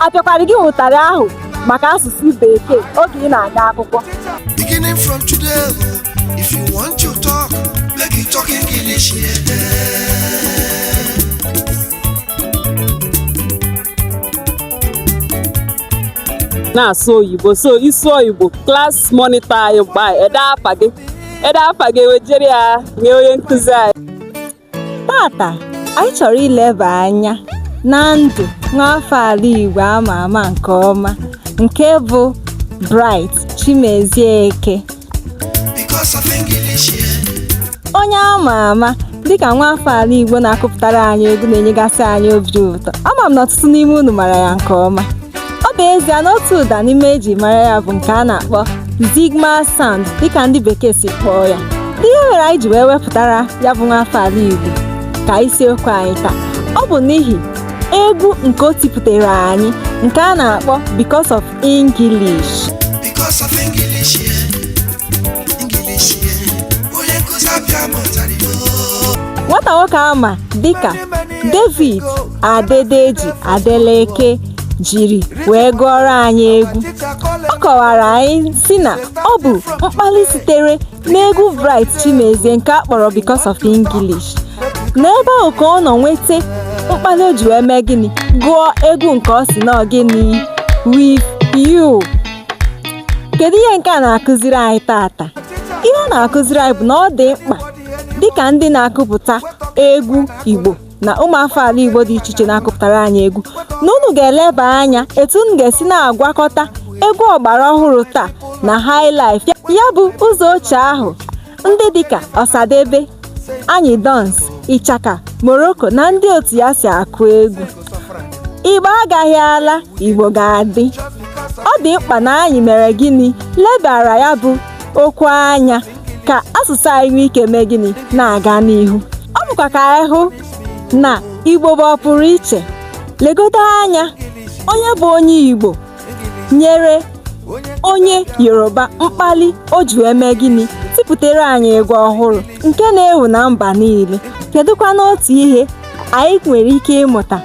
apịakwara gị ụtarị ahụ maka asụsụ bekee oge ị na-aga akwụkwọ Beginning from today, if you want to talk, make you talk English. Yeah. na-asụ oyibo sọ ịsụ oyibo class monitor anyị ga-ede afa gị ede afa gị ewejere ya nye onye nkụzi anyị Tata anyị chọrọ ileba anya na ndụ nwaafọ ala Igbo ama ama nke ọma nke bụ Bright Chimezie Eke onye ama ama dịka nwaafọ ala Igbo na-akụpụtara anyị egwu na-enyegasị anyị obi ụtọ ama m na ọtụtụ n'ime unu mara ya nke ọma ọ bụ ezie na otu ụda n'ime eji mara ya bụ nke a na-akpọ Zigima sound dịka ndị bekee si kpọọ ya ihe mere anyị ji wee wepụtara ya bụ nwaafọ ala Igbo ka isiokwu anyị taa ọ bụ n'ihi egwu nke o tipụtara anyị nke a na-akpọ Because of English Because of English, yeah. English, yeah. Onye nkụzi apịa m ụtarị Igbo. nwata nwoke ama dịka David Adedeji Adeleke jiri wee gụọrọ anyị egwu ọ kọwara anyị sị na ọ bụ mkpali sitere n'egwu Bright Chimezie nke a kpọrọ Because of English n'ebe ahụ ka ọ nọ nweta mkpali o ji wee mee gịnị gụọ egwu nke ọ sị na gịnị With You kedu ihe nke a na-akụziri anyị tata ihe ọ na-akụziri anyị bụ na ọ dị mkpa dịka ndị na-akụpụta egwu Igbo na ụmụafọ ala Igbo dị iche iche na-akụpụtara anyị egwu na unu ga-eleba anya etu unu ga-esi na-agwakọta egwu ọgbara ọhụrụ taa na highlife ya bụ ụzọ ochie ahụ ndị dịka Ọsadebe Anyidons Ichaka Morocco na ndị otu ya si akụ egwu Igbo agaghị ala Igbo ga-adị ọ dị mkpa na anyị mere gịnị lebara ya bụ okwu anya ka asụsụ anyị nwee ike mee gịnị na-aga n'ihu ọ bụkwa ka anyị hụ na igbo bụ ọpụrụ iche legodo anya onye bụ onye igbo nyere onye yoruba mkpali o ji wee mee gịnị tipụtere anyị egwu ọhụrụ nke na-ewu na mba niile kedụkwanụ otu ihe anyị nwere ike ịmụta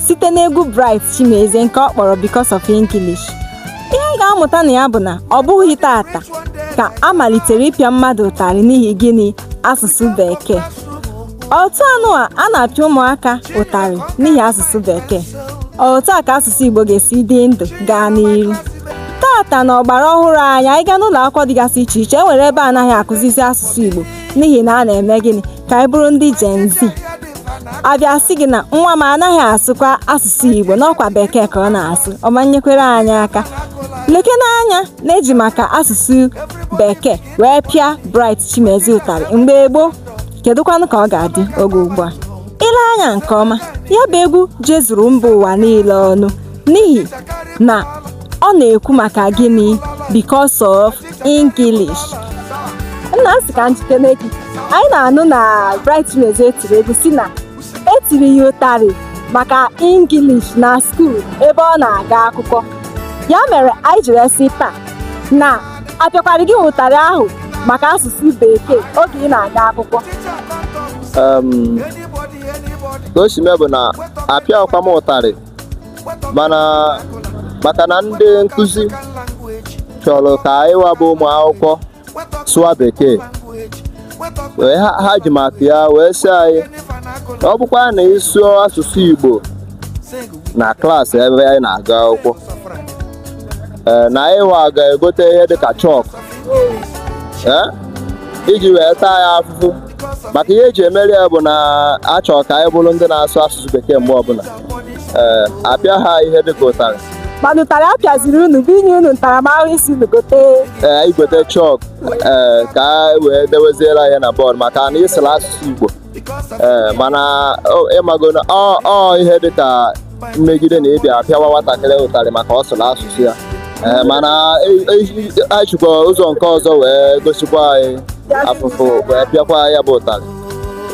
site n'egwu Bright Chimezie nke ọ kpọrọ Because of English ihe anyị ga-amụta na ya bụ na ọ bụghị tata ka a malitere ịpịa mmadụ ụtarị n'ihi gịnị asụsụ bekee otu anụa a na-apịa ụmụaka ụtarị n'ihi asụsụ bekee otu a ka asụsụ Igbo ga-esi dị ndụ gaa n'iru tata na ọgbara ọhụrụ anyị anyị gaa n'ụlọ akwụkwọ dịgasị iche iche e nwere ebe anaghị akụzizi asụsụ Igbo n'ihi na a na-eme gịnị ka anyị bụrụ ndị Gen Z abịa sị gị na nwa m anaghị asụkwa asụsụ Igbo n'ọkwa bekee ka ọ na-asụ ọ ma nyekwere anyị aka lekene anya na e ji maka asụsụ bekee wee pịa Bright Chimezie ụtarị mgbe gboo kedụkwanụ ka ọ ga-adị oge ugbu a i lee anya nke ọma ya bụ egwu jezuru mba ụwa niile ọnụ n'ihi na ọ na-ekwu maka gịnị because of English nna m sị ka m jụkene gị anyị na-anụ na Bright Chimezie tiri egwu sị na e tiri ya ụtarị maka English na skuul ebe ọ na-aga akwụkwọ ya mere anyị jiri sị taa na a pịakwara gị ụtarị ahụ maka asụsụ bekee oge ị na-aga akwụkwọ um, ka o si mee bụ na apịahụkwa m ụtarị mana maka na ndị nkụzi chọrọ ka anyị wa bụ ụmụ akwụkwọ sụwa bekee wee ha ha ji maka ya wee sị anyị na ọ bụkwa na ị sụọ asụsụ igbo na klaasị ebe anyị na-aga akwụkwọ ee, na anyị wa ga-egote ihe dịka chọk ee, iji wee taa ya afụfụ maka ihe eji emeri ya bụ na achọ ka anyị bụrụ ndị na-asụ asụsụ bekee mgbe ọbụla ee apịaha ihe dịka ụtarị mana ụtarị a pịaziri unu bụ inye unu ntaramahụhụ ịsị unu gote ee anyị gote chọk ee ka a wee deweziere ya na bọọdụ maka na ị sụrụ asụsụ igbo ee mana ị mago na ọ ihe dịka mmegide na ị bịa pịawa nwatakịrị ụtarị maka ọ sụrụ asụsụ ya ee mana e sikwa ụzọ nke ọzọ wee gosikwa anyị afụfụ wee pịakwa ya bụ ụtarị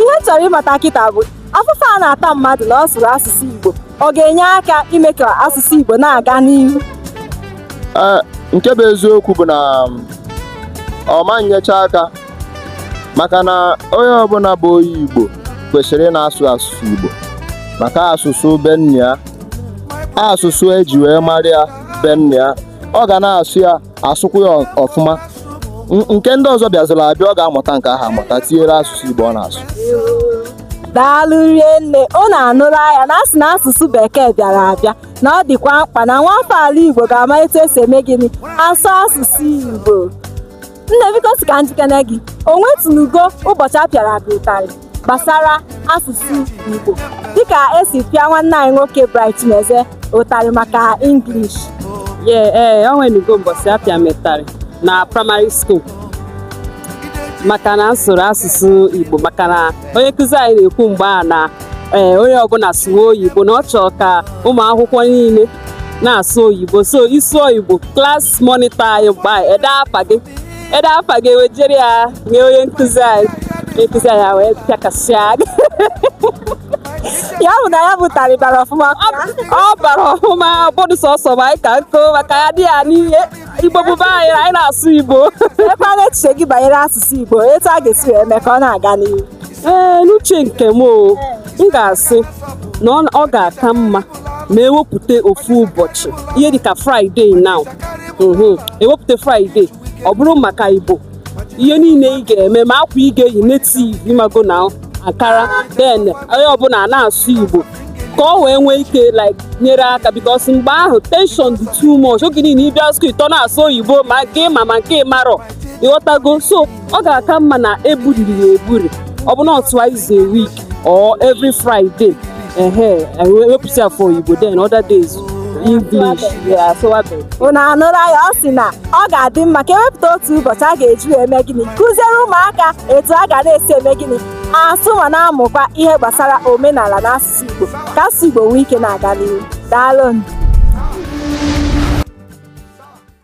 ihe m chọrọ ịmata kịta bụ afụfụ a na-ata mmadụ na ọ sụrụ asụsụ Igbo ọ ga-enye aka ime ka asụsụ Igbo na-aga n'ihu nke bụ eziokwu bụ na ọ ma nyecha aka maka na onye ọbụla bụ onye Igbo kwesịrị ịna-asụ asụsụ Igbo maka asụsụ be nne ya asụsụ eji wee mara ya be nna ya ọ ga na-asụ ya asụkwa ya ọfụma nke ndị ọzọ bịaziri abịa ọ ga-amụta nke ahụ amụta tinyere asụsụ Igbo ọ na-asụ daalụ rinne unu anụla ya na a sị na asụsụ bekee bịara abịa na ọ dịkwa mkpa na nwafọ ala Igbo ga-ama etu esi eme gịnị asụ asụsụ Igbo nne biko sị ka m jụkene gị o nwetụnugo ụbọchị a pịara gị ụtarị gbasara asụsụ igbo dịka esi pịa nwanne anyị nwoke Bright Chimezie ụtarị maka english ye ee o nwenugo mbọsị a pịa m ụtarị na praịmarị skuul maka na m sụrụ asụsụ igbo maka na onye nkụzi anyị na-ekwu mgbe a na ee onye ọbụla sụwa oyibo na ọ chọrọ ka ụmụ akwụkwọ niile na-asụ oyibo so ị sụọ igbo klas mọnịtọ anyị mgbe anyị ede afa gị ede afa gị ewejere ya nye onye nkụzi anyị onye nkụzi anyị wee pịakasịa gị ya bụ na ya bụ ụtarị bara ọfụma ọ bara ọfụma bọdụ sọsọ ma anyị ka nkụ maka ya dị ya n'ihe igbo bụba anyị anyị na-asụ igbo keekwanụ echiche gị banyere asụsụ igbo etu a ga-esi wee mee ka ọ na-aga n'ihu ee n'uche nke m o m ga-asị na ọ ga-aka mma ma ewepụta ofu ụbọchị ihe dịka fraịde now mhm. ewepụta fraịde ọ bụrụ maka igbo ihe niile ị ga-eme ma akwa ị ga-eyi netiv ịmago na ankara den onye ọbụla na-asụ igbo ka ọ wee nwee ike like nyere aka bikos mgbe ahụ tenshon dị too much oge niile ịbịa skul ịtọ na-asụ oyibo ma nke ma ma nke marọ ịghọtago so ọ ga-aka mma na eburiri ya eburi ọ bụ na ọ twice a week or every Friday ehe ewepụsị ya for Igbo then other days English ya asụwabeghị unu anụla ya ọ sị na ọ ga-adị mma ka ewepụta otu ụbọchị a ga-eji wee mee gịnị kụziere ụmụaka etu a ga na-esi eme gịnị asụ ma na-amụkwa ihe gbasara omenala na asụsụ Igbo ka asụsụ Igbo nwee ike na-aga n'ihu daalụ